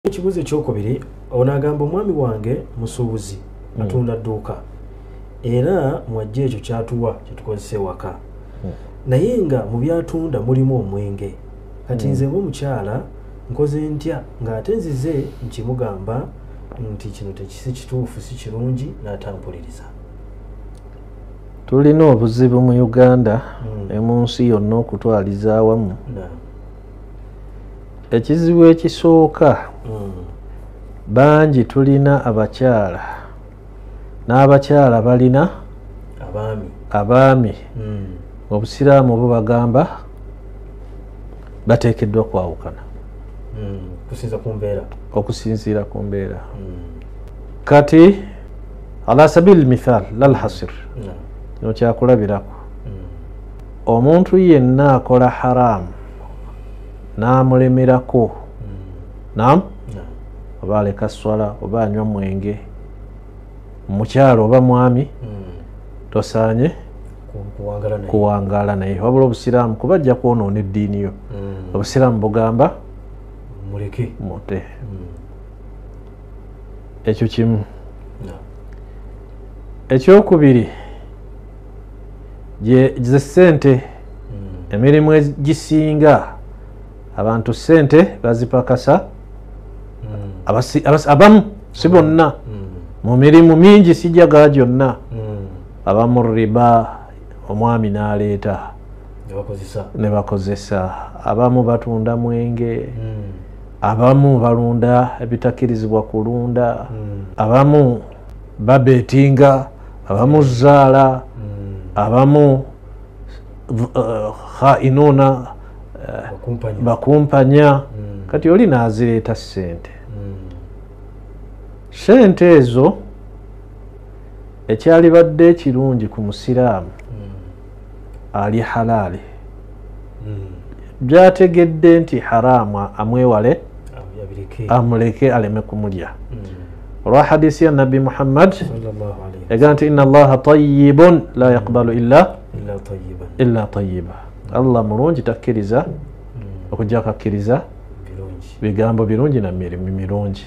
ekibuuzo ekyokubiri onagamba omwami wange musuubuzi hmm. atunda dduuka era mwajja ekyo kyatuwa kyetukozesa ewaka hmm. naye nga mu byatunda mulimu omwenge kati hmm. nze nga omukyala nkoze ntya ng'ate nzize nkimugamba nti kino tekisi kituufu si kirungi n'atampuliriza tulina obuzibu mu uganda ne mu nsi yonna okutwaliza awamu ekizibu ekisooka hmm. bangi tulina abakyala n'abakyala balina abaami hmm. obusiraamu obo bagamba bateekeddwa kwawukana hmm. okusinziira ku mbeera kati ala sabili mithal lalhasir kino kyakulabirako omuntu yenna akola haramu n'amulemerako hmm. nam oba aleka swala oba anywa mwenge mukyalo oba mwami hmm. tosaanye kuwangaala naye wabula obusiraamu kuba ajja kwonoona eddiini yo hmm. obusiraamu bugamba muleke mute ekyo kimu ekyokubiri ze sente hmm. emirimu egisinga abantu sente bazipakasa hmm. abamu si bonna mu mirimu mingi sijaga gyonna abamu riba omwami n'aleeta ne bakozesa abamu batunda mwenge abamu balunda ebitakirizibwa kulunda hmm. abamu babetinga abamu zaala hmm. abamu uh, khainuna uh, bakumpanya hmm. kati oli nazireeta sente sente ezo ekyalibadde ekirungi ku musiraamu ali halaali hmm. byategedde nti haraamu amwewale amuleke aleme kumulya hmm. olwa hadisi ya nabbi muhammad yagaa nti ina allaha tayibun la yaqbalu illa illa tayiba allah mulungi takkiriza hmm. okujja kakkiriza bigambo birungi na mirimu mirungi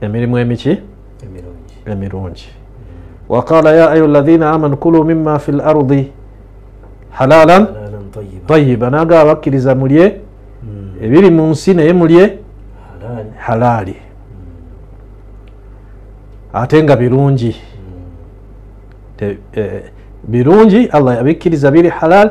emirimu emiki emirungi waqala ya ayuha alladhina amanu kulu mima fi lardi halalan tayiba naga abakkiriza mulye hmm. ebiri mu nsi naye mulye halaali hmm. ate nga birungi hmm. eh, birungi allah yabikkiriza biri halaali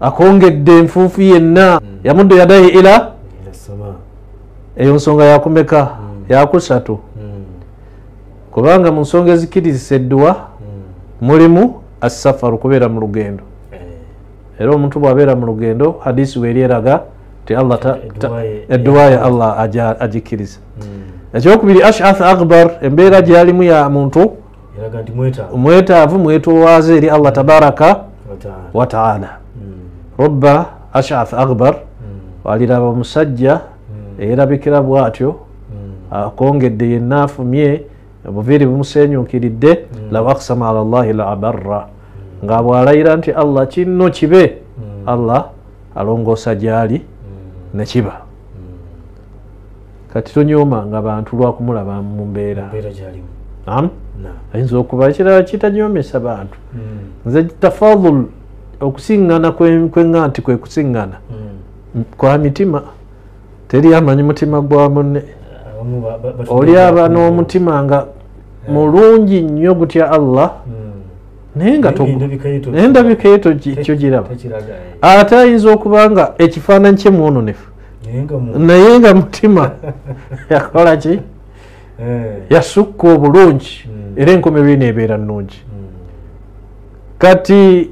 akongedde enfuufu yenna hmm. yamudde yadayi ila eyo nsonga yakumeka hmm. yakusatu hmm. kubanga mu nsonga ezikirizisa edduwa mulimu assafaru kubeera mu lugendo eh. era omuntu bwabeera mu lugendo hadisi weeri eraga ti allah edduwa ya allah agikkiriza ekyokubiri ashath akbar embeera gyeyalimu ya muntu mwetaavu mwetowaaze eri allah tabaraka wataala hmm. robba ashath akbar hmm. aliraba omusajja hmm. eyerabikira bwatyo akongedde yenna afumye obuviiri bumusenyukiridde law aksama ala llahi la abarra nga bwalayira nti allah kinno kibe allah alongoosa gyali nekiba kati tonyoomanga bantu lwakumulaba mu mbeera ayinza okuba ekirala kitanyoomesa bantu hmm. nze tafadul okusiŋŋana kwenga nti kwe kusiŋŋana hmm. kwa mitima teri amanyi mutima gwa munne oli aba n'omutima nga mulungi nnyo gutya allah hmm. naye nga endabika yeto kyogiraba eh. ate ayinza okuba nga ekifaananyi kye mwononefu naye nga mutima yakola ki eh. yasukka obulungi hmm. era enkomerero eno ebeera nnungi hmm. kati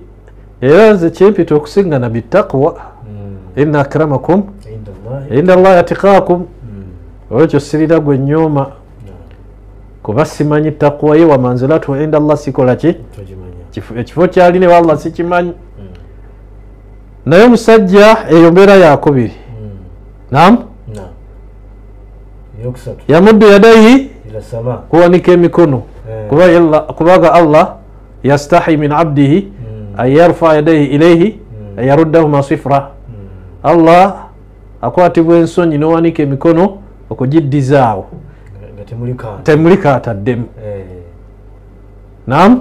era nze kyempita okusiŋgana bitaqwa hmm. ina akramakum inda llahi atikakum olwekyo sirira gwe nyooma kuba simanyi takwa ye wamanzilatu inda llah sikola ki ekifo kyali ne wallah sikimanyi naye omusajja eyo mbeera yakubiri hmm. nam yamuddu yadayi kuwanika emikono eh. kubaga allah yastahi min abdihi hmm. an yarfa yadaihi ilaihi hmm. an yaruddahuma sifra allah akwatibwa ensonyi nowanika emikono okugiddizaawo temuli kaataddemu eh. nam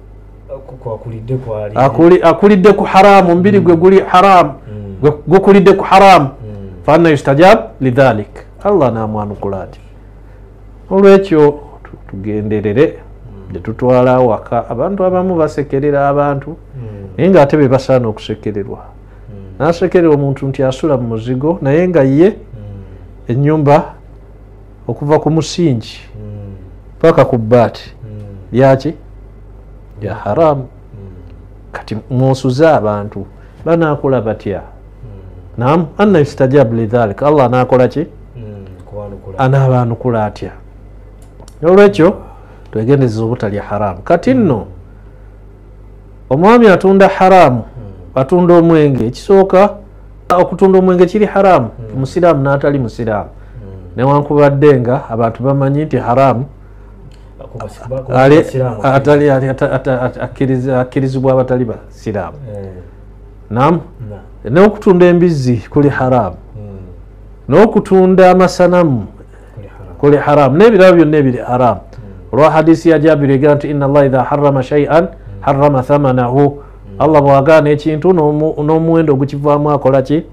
akulidde ku haramu omubiri gwe guli haramu mm. gukulidde ku haramu mm. faana yustajab lidhalik allah namwanukula ati olwekyo tugenderere mm. netutwala awaka abantu abamu basekerera abantu naye nga ate bebasaana okusekererwa nasekerera omuntu nti asula mu muzigo naye nga ye enyumba okuva ku musingi hmm. paka ku baati hmm. byaki bya haramu kati musuze abantu banakola batya nam anna yustajabu lidhalik allah anakola ki anaabaanukula atya olwekyo twegendezeza obutalya haramu kati nno omwami atunda haramu hmm. atunda omwenge ekisooka okutunda omwenge kiri haramu hmm. musiraamu n'atali musiraamu hmm. newankubadde nga abantu bamanyi nti haramu akkirizibwa abatali basiraamu eh. nam n'okutunda embizzi kuli haramu n'okutunda amasanamu kuli haramu n'ebirabo byonna ebiri haramu hmm. olwa hadisi ya jabiri egera nti ina llah idha harama shaian hmm. harama thamanahu hmm. allah bwagaana ekintu n'omuwendo ogukivaamu akola ki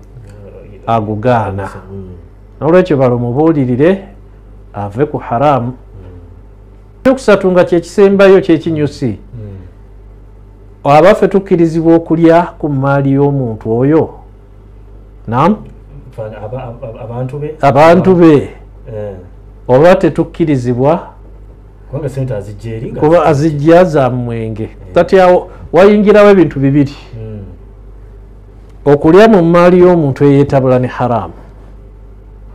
agugaana nolwekyo balo mubuulirire ave ku haramu ekyokusatu nga kyekisembayo kyekinyusi abaffe tukkirizibwa okulya ku mmaali y'omuntu oyo nam abantu be eh. oba tetukkirizibwa kuba azijja za mwenge eh. tatyawo wayingirawo ebintu bibiri hmm. okulya mu maali y'omuntu eyetabula ne haramu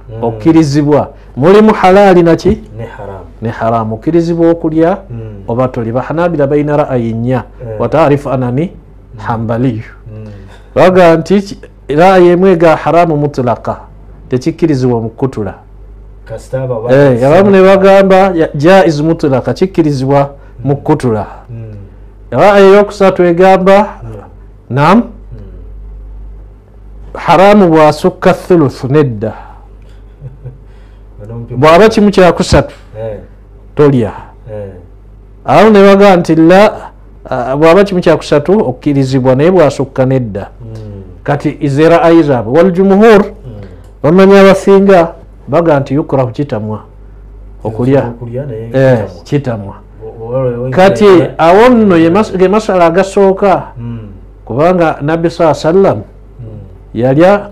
hmm. okkirizibwa mulimu halaali naki ne haramu okkirizibwa okulya hmm. oba toli bahanabira balina ra'ayi nnya wataarifu anani hambaliyu baga nti raaya emu ega haramu mutulaka tekikkirizibwa omukukutula eh, abamu ne bagamba jaiz mutulaka kikkirizibwa mukukutula raaya hmm. eyokusatu egamba hmm. nam hmm. haramu bwasukka thuluth nedda bwaba kimu kyakusatu eh. tolya eh. awo ne baga nti la bwaba kimu kyakusatu okukirizibwa naye bwasukka nedda hmm. kati izera ayi zaabwe waljumuhur hmm. bamanya abasinga baga nti yukurahu kitamwa okulya eh, kitamwa kati awo nno ge masala agasooka hmm. kubanga nabbi saa sallam yalya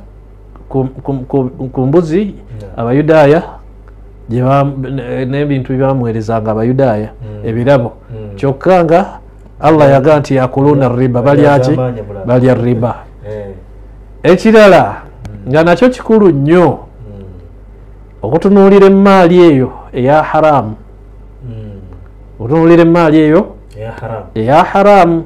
ku mbuzi abayudaaya n'ebintu byebamuweerezanga abayudaaya hmm. ebirabo hmm. kyokka nga allah yaga nti yakuluuna riba balyaki balya riba eh. ekirala hmm. nga nakyo kikulu nnyo okutunuulira emmaali eyo eya haramu okutunuulira emmaali eyo eya haramu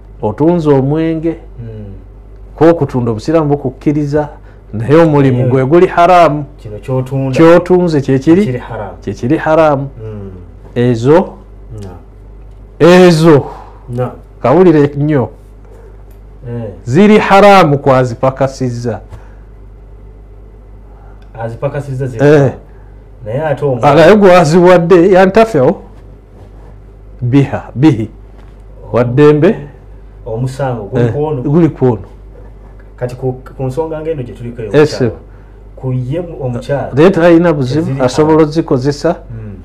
otunze omwenge hmm. kwokutunda obusiraamu bukukkiriza naye omulimu gwe guli haramu kyotunze kyekiri kyekiri haramu hmm. ezo ezo kawulire nnyo eh. ziri haramu kwazipakasizza azipakasizza eh. naye ate omwana naye gwaziwadde yantafewo biha bihi waddembe omusango guli eh, kwono kati ku nsonga ngaeno gyetuliko ku ye omukyala naye talina buzibu asobola ozikozesa hmm.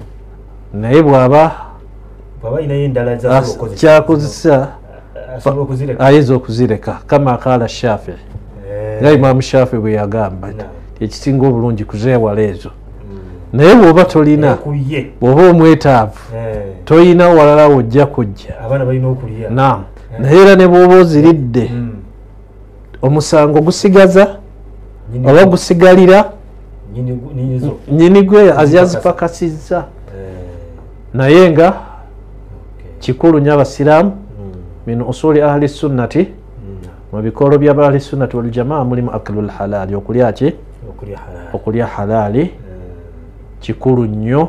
naye bwaba kyakozesa ayinza okuzireka kama akaala shafi eh. nga imamu shafi bwe yagamba nti ekisinga obulungi kuzeewala ezo hmm. naye bwoba tolina eh, bwoba omwetaavu eh. tolina walala wojja kujja naam naye era ne bwoba oziridde hmm. omusango gusigaza oba gusigalira nyini gwe azyazipakasizza eh. naye nga kikulu nyo abasiraamu hmm. min usuli ahli sunnati mu bikolo byabali sunnati waljamaa mulimu aklu lhalaali okulya ki okulya halaali eh. kikulu nnyo